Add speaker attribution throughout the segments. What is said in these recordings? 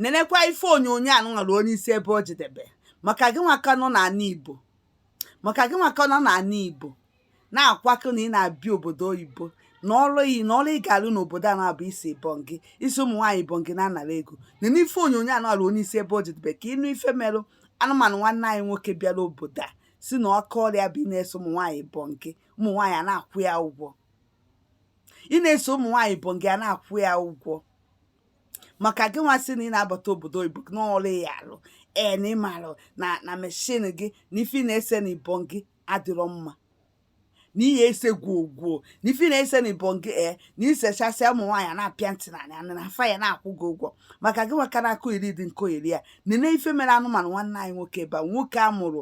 Speaker 1: nenekwa ife onyonyo anụnwa nenesie ebe o jedebe maka gị nwa ka nọ n'ala Igbo maka gị nwa ka nọ n'ala Igbo na-akwakọ na ị na-abịa obodo oyibo na ọrụ ị ya na ọrụ ị ga-alụ n'obodo a na-abụ ise ibongi ise ụmụ nwaanyị ibongi na-anara ego nene ife onyonyo anụnwa nenesie ebe o jedebe ka ị nụ ife merụ anụmanụ nwanne anyị nwoke bịara obodo a sị na aka ọrụ ya bụ ịna-ese ụmụ nwaanyị ibongi ụmụ nwaanyị a na-akwụ ya ụgwọ ịna-ese ụmụ nwaanyị ibongi a na-akwụ ya ụgwọ maka gị nwa sị na ị na-abata obodo oyibo na ọrụ ị ya-alụ ee na ị malụ na na meshin gị na ife ị na-ese na ibongi adịrọ mma na ị ya-ese gwuo gwuo na ife ị na-ese na ibongi ee na i sechasịa ụmụ nwaanyị a na-apịa ntị na anị na fa ya na-akwụ gị ụgwọ maka gị nwa ka na-akụ iri dị nko iri ya nene ife mere anụmanụ nwanne anyị nwoke ebe a nwoke a mụrụ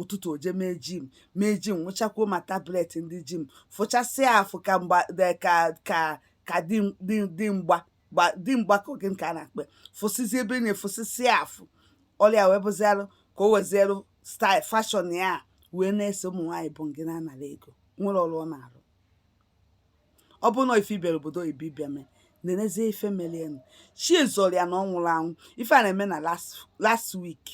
Speaker 1: ụtụtụ o je mee jim mee jim nwụchakwuo ma tablet ndị jim fụchasịa afụ ka mgba ka ka ka di di di mgba gba di mgba ka oge nke a na-akpe fụsịzi ebe na-efụsịsịa afụ ọrụ ya wee bụzialụ ka o wezielụ style fashion ya wee na-ese ụmụ nwaanyị ibongi na-anara ego nwere ọrụ ọ na-arụ ọ bụrụ na ife ibere obodo oyibo ị bịa mee nenezie ife melụ ya nụ chi zọrọ ya na ọ nwụrọ anwụ ife a na-eme na last last week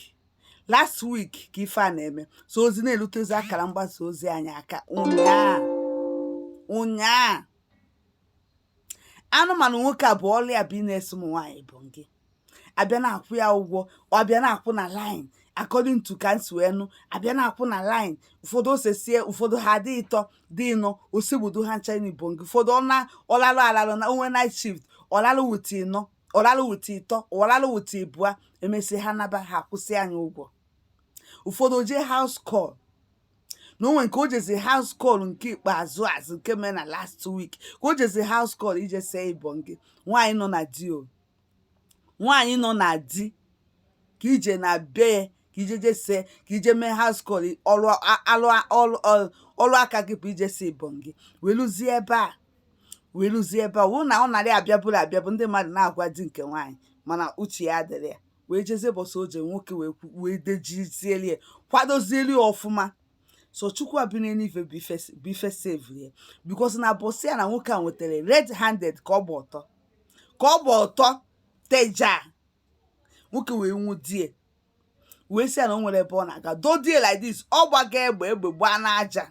Speaker 1: last week ka ife a na-eme so ozi na-erutezi akara mgbasa ozi anyị aka ụnyaa ụnyaa anụmanụ nwoke a bụ ọrụ ya bụ ịna-ese ụmụ nwaanyị ibongi abịa na-akwụ ya ụgwọ ọ abịa na-akwụ na line according to ka m si wee nụ abịa na-akwụ na line ụfọdụ o sesie ụfọdụ ha dị ịtọ dị ịnọ o segbudo ha ncha n'ibongi ụfọdụ ọ na ọ lalụ alalụ na-enwe night shift ọ lalụ with ịnọ ọ rarụ with ịtọ ọ rarụ with ịbụa emesịa ha naba ha akwụsịanụ ya ụgwọ ụfọdụ o je house call na o nwe nke o jezi house call nke ikpeazụ azụ nke mee na last week ka o jezi house call ije see ibongi nwaanyị nọ na di o nwaanyị nọ na di ka i je na be ya ka i je je see ka i je mee house call ọrụ aka gị bụ ije see ibongi wee luzie ebe a wee ruzie ebe a wụ na ọ narị abịabụrụ abịabụ ndị mmadụ na-agwa di nke nwaanyị mana uche ya adịrọ ya wee jezie bọsụ oje nwoke wee kwu- wee dejizieli ya kwadozieli ya ọfụma so chukwu abịa n'ife bụ ife s- bụ ife savere ya because na a bọsụ ya na nwoke a nwetara red handed ka ọ gba ọtọ ka ọ gba ọtọ teja nwoke wee nwụde ya wee sị ya na o nwerọ ebe ọ na-aga dodie like this ọ gbaga egbe egbe gbaa n'aja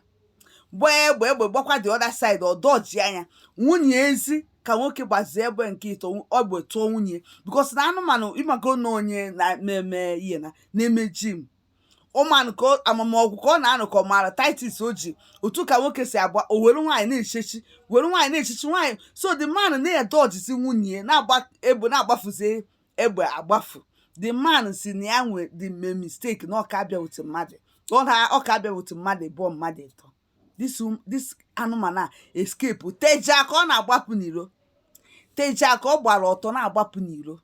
Speaker 1: gbaa egbe egbe gbakwa the other side ọ dọji anya nwunye ezi ka nwoke gbazie egbe nke ịtọ egbe tụọ nwunye because na anụmanụ ị mago na onye na-eme ihe na na-eme jim ụman ka ọ- amamọgwụ ka ọ na-anụ ka ọ maara titus o ji otu ka nwoke si agba o were nwaanyị na-echechi were nwaanyị na-echechi nwaanyị so the man na-edọjizi nwunye ya na-agba egbe na-agbafuzi egbe agbafu the man sị na ya nwee ike mee mistake na ọka abịa wute mmadụ ọ na ọka abịa wute mmadụ ịbụọ mmadụ ịtọ this um, this anụmanụ a escape tejaa ka ọ na-agbapụ n'iro tejaa ka ọ gbara ọtọ na-agbapụ n'iro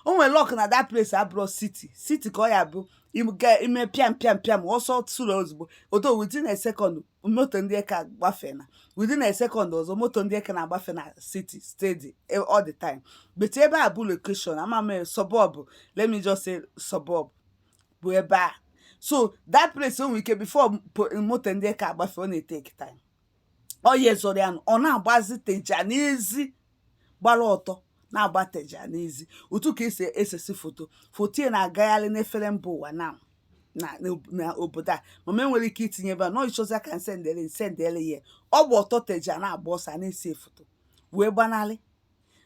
Speaker 1: o nwere luck na that place abụrọ city city ka ọ ya-abụ i mee pịam pịam pịam ọsọ tụrụ ozugbo odo within a second moto ndị eke agbafe na within a second ọzọ moto ndị eke na-agbafe na city steady e, all the time but ebe a bụ location ama m suburb let me just say suburb bụ ebe a so that place o nwere ike before po- moto ndị eke agbafe ọ na-eteki time ọ ya ezoro ya nụ, ọ na-agbazi teja n'ezi gbara ọtọ na-agba teja n'ezi otu ka e si esesi foto foto ya na-agagharị n'efere mba ụwa na na n'ob- na obodo a ama m ma e nwere ike itinye ebe a nọ ị chọzia ka nsendere nsendere ya ọ gba ọtọ teja na-agba ọsọ a na-ese foto wee gbanarị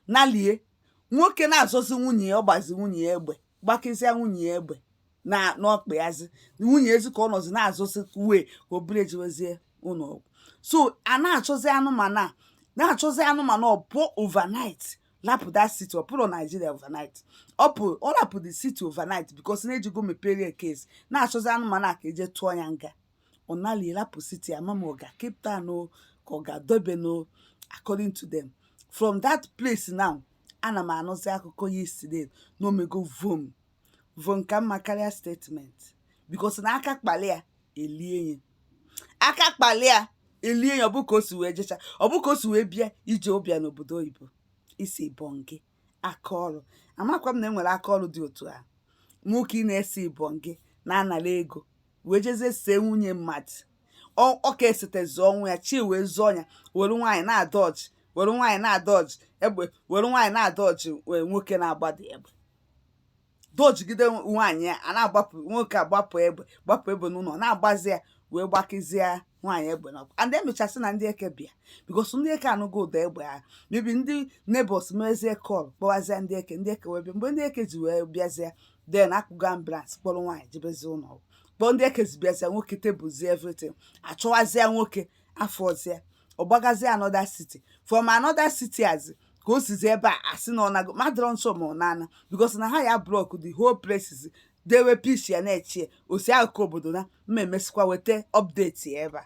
Speaker 1: nalie nwoke na-azọzi nwunye ya ọ gbazi nwunye ya egbe gbakịzịa nwunye ya egbe na n'ọkpa yazi nwunye ya zi ka ọ nọzi na-azọzi wee ka e buru ya jewezie ụlọ ọgwụ so a na-achọzi anụmanụ a na-achọzi anụmanụ ọ pụọ overnight lapụ that city ọ pụrụ Nigeria overnight ọ pụ ọ lapụ the city overnight because na e jego mepere ya case na-achọzi anụmanụ a ka e jee tụọ ya nga ọ nalie rapụ city ama m ma ọ ga Cape Town o ka ọ ga Durban o according to them from that place now ana m anụzi akụkọ yesterday na o mego vom vom ka mma karịa statement because na aka kpali ya elie ya aka kpali ya elie ya ọ bụ ka o si wee jecha ọ bụ ka o si wee bịa ije ọ bịa n'obodo oyibo isi bọngị aka ọrụ amakwa m na enwere aka ọrụ dị otu a nwoke ị na-ese ibọngị na-anara ego wee jezie see nwunye mmadụ ọ ka esetezi ọnwụ ya chi wee zọọ ya were nwaanyị na-adọjị were nwaanyị na-adọjị egbe were nwaanyị na-adọjị wee nwoke na-agbadị egbe dojigide nwaanyị ya a na-agbapụ nwoke agbapụ egbe gbapụ egbe n'ụlọ na-agbazi ya wee gbakịzie nwaanyị egbe n'ụkwụ and emechasị na ndị eke bịa because ndị eke anụgo ụda egbe a maybe ndị neighbours mezie call kpọwazie ndị eke ndị eke wee bịa mgbe ndị eke ji wee bịazie then akpụgo ambulance kpọrọ nwaanyị jebezi ụlọ ọgwụ kpọọ ndị eke ji bịazie nwoke tablezie everything achọwazie nwoke afọzie ọ gbagazie another city from another city as ka o sizi ebe a asị na ọ nago ma adịrọ m sure ma ọ na-ana because na ha ya blọk the whole places dewe pics ya na-eche ya osi akụkọ obodo na m ma-emesikwa weta update ya ebe a